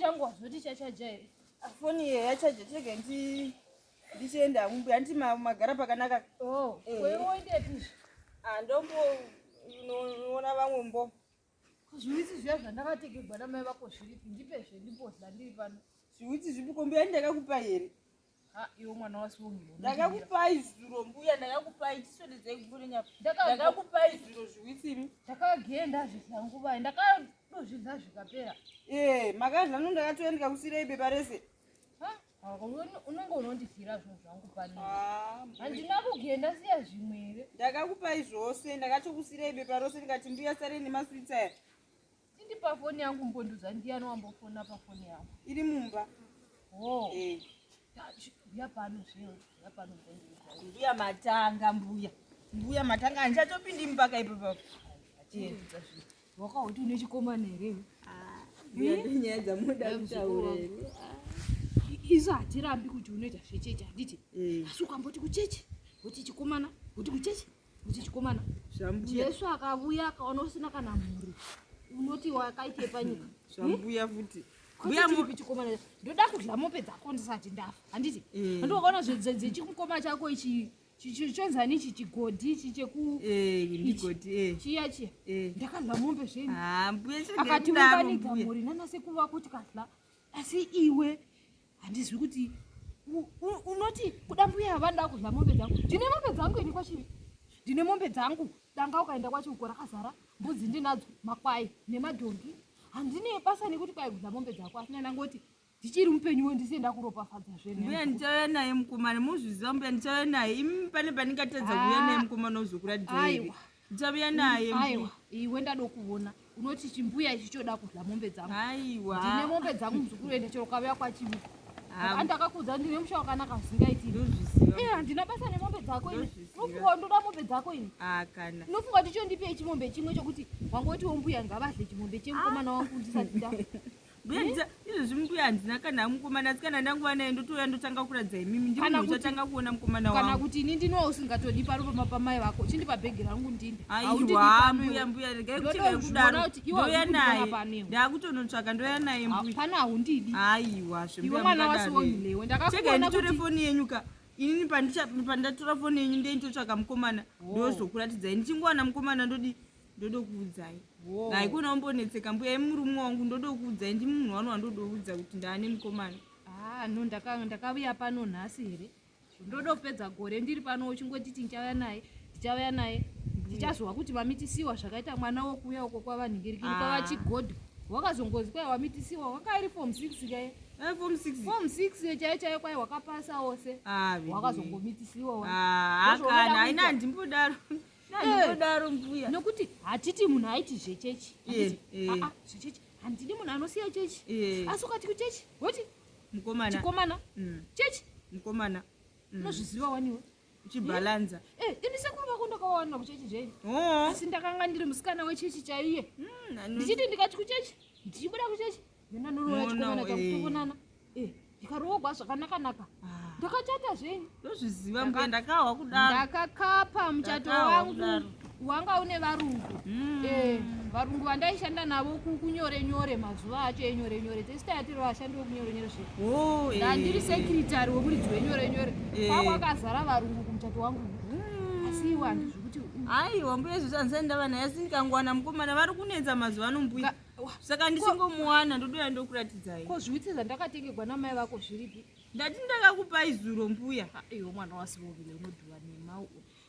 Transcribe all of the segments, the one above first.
changu wazoti chachaja here foni iye yachaja chega ndi ndichienda hangu mbuya nditi magara pakanaka oh, eh. wewoindepi ah, ndomboona vamwe mbo Zviwitsi zviya zvandakatekerwa namai vako zviripi ndipezve ndipozla ndiri pano. Zviwitsi zvipi ko mbuya ndakakupa here? Ha iwe mwana wasungiro. Ndakakupai zuro mbuya ndakakupai tisodedzai kumbure nyapa. Ndakakupai zuro zviwitsi imi. Ndakagenda zvizangu vai ndakadozvidza zvikapera. Eh makadla no ndakatoenda ndikakusirei bepa rese. unenge unondizira zvinhu zvangu pani ah, handina kugenda ndasiya zvimwe here ndakakupai zvose ndakatokusirai bepa rose ndikati mbuya sare nemaswitsa aya tindi pafoni yangu mbonduza ndiyani wambofona pafoni yangu iri mumba wo oh. eh. mbuya pano zvino mbuya pano mbonduza mbuya matanga mbuya mbuya matanga handichatopindi mupaka ipo papo Wakauti une chikomana here? Ah, nyaya dzamunoda kutaura here? Ah. Isu hatirambi kuti unoita zvechechi handiti? Eh. Asi ukamboti kuchechi, kuti chikomana, kuti kuchechi, kuti chikomana. Jesu akavuya akaona usina kana mhuri. Unoti wakaitei panyika? Zvambuya eh? futi. Mbuya mupi chikomana ndoda kudya mombe dzako ndisati ndafa handiti? Eh. Ndoona zvechikomana chako ichi chonzani ichi chigodhi ichi chekugodhi eh, eh. chiya chiya eh. ndakadla mombe zvenyu ah, akati mubanika mhuri nanasekuru vako tikadla asi iwe handizwi kuti unoti kuda mbuya havani ndakudla mombe dzangu ndine mombe dzangu ini kwachivi ndine mombe dzangu danga ukaenda kwachi uko rakazara mbudzi ndinadzo makwai nemadhongi handine basa nekuti kwaigudza mombe dzako asina ndangoti ndichiri mupenyu wo ndise ndakuropafadza zve mbuya ndichauya naye mukomana muzviziva mbuya ndichauya naye imi pane pandingatadza kuuya naye ah. mukomana wozokuradiaiwa ndichauya naye aiwa iwe ndadokuvona unoti chimbuya ichi choda kudya mombe dzangu aiwa ndine mombe dzangu muzukuru ende chero ukauya kwachivi andakakuudza ndine musha wakanaka zvingaiti handina basa nemombe dzako ini unofunga ndoda mombe dzako ini unofunga kuti chondipei chimombe chimwe chokuti wangoti wombuya ngavadle chimombe chemukomana wangu ndisati nda mbuya ndisa izvezvi mbuya handina kana amukomana asi kana ndanguva naye ndotouya ndotanga kuratidza imimi ndimuna uchatanga kuona mukomana wangu kana kuti ini ndinowa usingatodi paro pama pamai vako chindipa bhegi rangu ndini aiwa mbuya mbuya regai kucheka yekudaro ndouya naye ndakutonotsvaka ndouya naye mbuya pana haundidi aiwa zvembuya mwana wasiwonhilewe ndakakuona kuti cheka foni yenyu ka inini pandatora foni yenyu ndeinitotsvaka mukomana ndozokuratidzai ndichingowana mukomana ndodii ndodokuudzai haikona umbonetseka mbuya imurume wangu ndodokuudzai ndi munhu wanu wandodoudza kuti ndaane mukomana ah, no ndakavuya pano nhasi here ndodopedza gore ndiri pano uchingoti tinchauya naye tichauya naye ndichazowa kuti mamitisiwa zvakaita mwana wokuuya uko kwavanhingirikiri ah. kwavachigodho wakazongozi kwai wamitisiwa wakairi fom six kaye eh, fom six chaiyo chaiyo kwai wakapasa wose ah, wakazongomitisiwa ah, akana aina handimbodaro nokuti hatiti munhu aiti zvechechi eh, eh. ah, ah, zvechechi handidi munhu anosiya chechi eh. asi ukati kuchechi woti mukomanachikomana mm. chechi mukomana mm. unozviziva waniwe uchibhalanza ini sekuru vako ndakawawana kuchechi zvenyu oh. asi ndakanga ndiri musikana wechechi chaiye mm, ndichiti ndikati kuchechi ndichibuda kuchechi ndikaroogwa zvakanakanaka ah. ndakachata zvenyu ndozviziva mbuya ndakahwa kudaro ndakakapa muchato wangu wanga une varungu hmm. eh, varungu vandaishanda navo kunyore nyore mazuva acho enyore nyore tesitayatiri vashandi vekunyore nyore zve oh, eh. ndandiri sekritary wekuridzi wenyore nyore eh. kwakwakazara varungu kumuchato wangu hmm. asi iwe handizvi aiwa mbuya izvozvo andisati ndava naye asi ndikangowana mukomana vari kunetsa mazuva ano mbuya saka ndisingomuwana ndodouya ndokuratidzai ko zviwitsi zvandakatengerwa namai vako zviripi ndati ndakakupai zuro mbuya iyo mwana wasivovile unodhuva nemau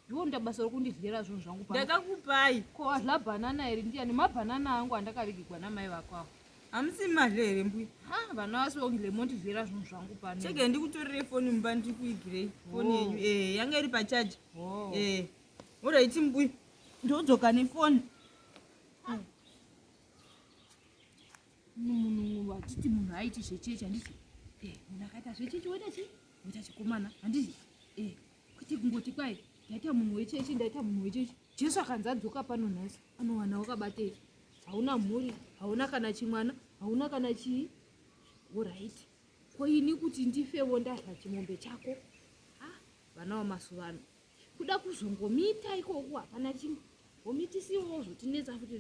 iwo nda basa rokundidyera zvinhu zvangu ndakakupai ko adla bhanana iri ndiyani mabhanana angu andakavigigwa namai vako avo hamusi madle here mbuya ha vana vasivovile mondidyera zvinhu zvangu pano chege ndikutorere foni mumba ndiri kuigirei foni yenyu oh. ee eh, yanga iri pachaji oh. ee eh. oraiti mbuya ndodzoka nefoni munhu achiti munhu aiti zvechechi handiti eh, munhu akaita zvechechi woita chii woita chikomana handiti eh, kuti kungoti kwai ndaita munhu wechechi ndaita munhu wechechi jesu akanzi adzoka pano nhasi anowana wakabatei hauna mhuri hauna kana chimwana hauna kana chii orit ko ini kuti ndifevo ndadla chimombe chako ah, vana vamasuva ano Kuda kuzongomiita ikoko hapana chimwe. Homitisiwo zvotinetsa futi